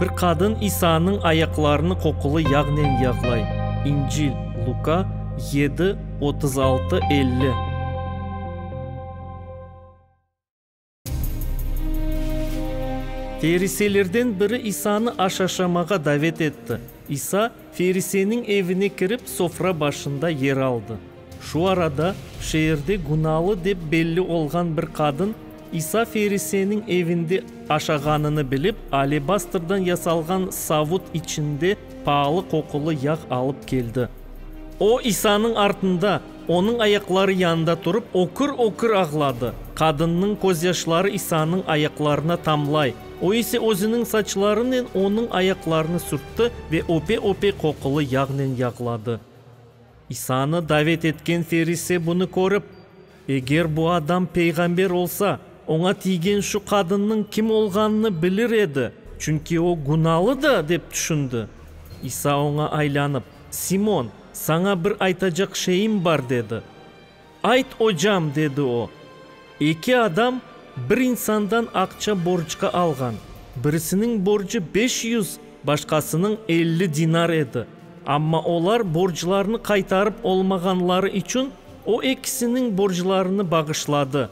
Bir qadın İsa'nıñ ayaqlarını qoqulı yağnen yağlay, İncil, Luka, yedi, otuz altı, elli. Feriselerden biri İsa'nı aş aşamağa davet etti. İsa feriseniñ evine kirip, sofra başında yer aldı. Şu arada, şeerde günalı dep belli olğan bir qadın, İsa feriseniñ evinde aşağanını bilip, alebastrdan yasalğan savut içinde paalı qoqulı yağ alıp keldi. O, İsanıñ artında, onıñ ayaqları yanında turıp, ökür-ökür ağladı. Qadınnıñ közyaşları İsanıñ ayaqlarına tamlay, o ise özüniñ saçlarınen onıñ ayaqlarını sürtti ve öpe-öpe qoqulı yağnen yağladı. İsanı davet etken ferise bunı körip, Eger bu adam peyğamber olsa, oña tiygen şu qadınnıñ kim olğanını bilir edi, çünki o günalıdı, dep tüşündi. İsa oña aylanıp, Simon, saña bir aytacaq şeyim bar, dedi. Ayt, ocam, dedi o, eki adam bir insandan aqça borcqa alğan, birisiniñ borcu beş yüz, başqasınıñ elli dinar edi, amma olar borclarını qaytarıp olmağanları içün o ekisiniñ borclarını bağışladı.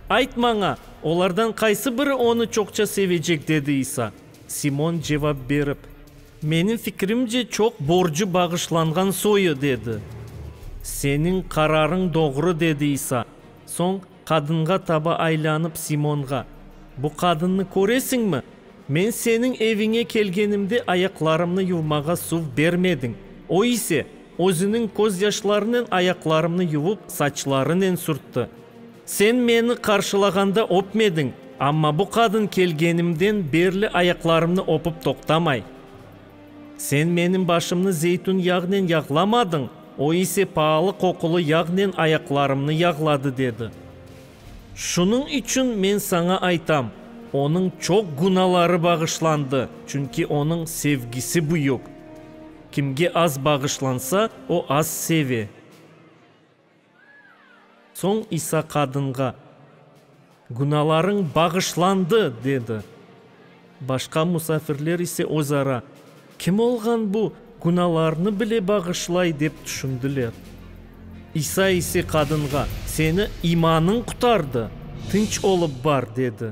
Ayt maña, olardan qaysı biri onı çoqça sevecek? dedi İsa. Simon cevap berip. Menim fikrimce, çoq borcu bağışlanğan soyu, dedi. Seniñ qararıñ doğru, dedi İsa. Soñ qadınğa taba aylanıp Simonğa, Bu qadınnı köresiñmi? Men seniñ eviñe kelgenimde ayaqlarımnı yuvmağa suv bermediñ, o ise, özüniñ közyaşlarınen ayaqlarımnı yuvıp, saçlarınen sürtti. Sen meni qarşılağanda öpmediñ, amma bu qadın kelgenimden berli ayaqlarımnı öpüp toqtamay. Sen menim başımnı zeytün yağnen yağlamadın, o ise paalı qoqulı yağnen ayaqlarımnı yağladı, dedi. Şunıñ içün men saña aytam, onıñ çoq günaları bağışlandı, çünki onıñ sevgisi büyük. Kimge az bağışlansa, o az seve. Soñ İsa qadınğa, Günâlarıñ bağışlandı! dedi. Başqa musafirler ise özara, Kim olğan bu, günâlarnı bile bağışlay? dep tüşündiler. İsa ise qadınğa, Seni imanıñ qutardı, tınç olıp bar! dedi.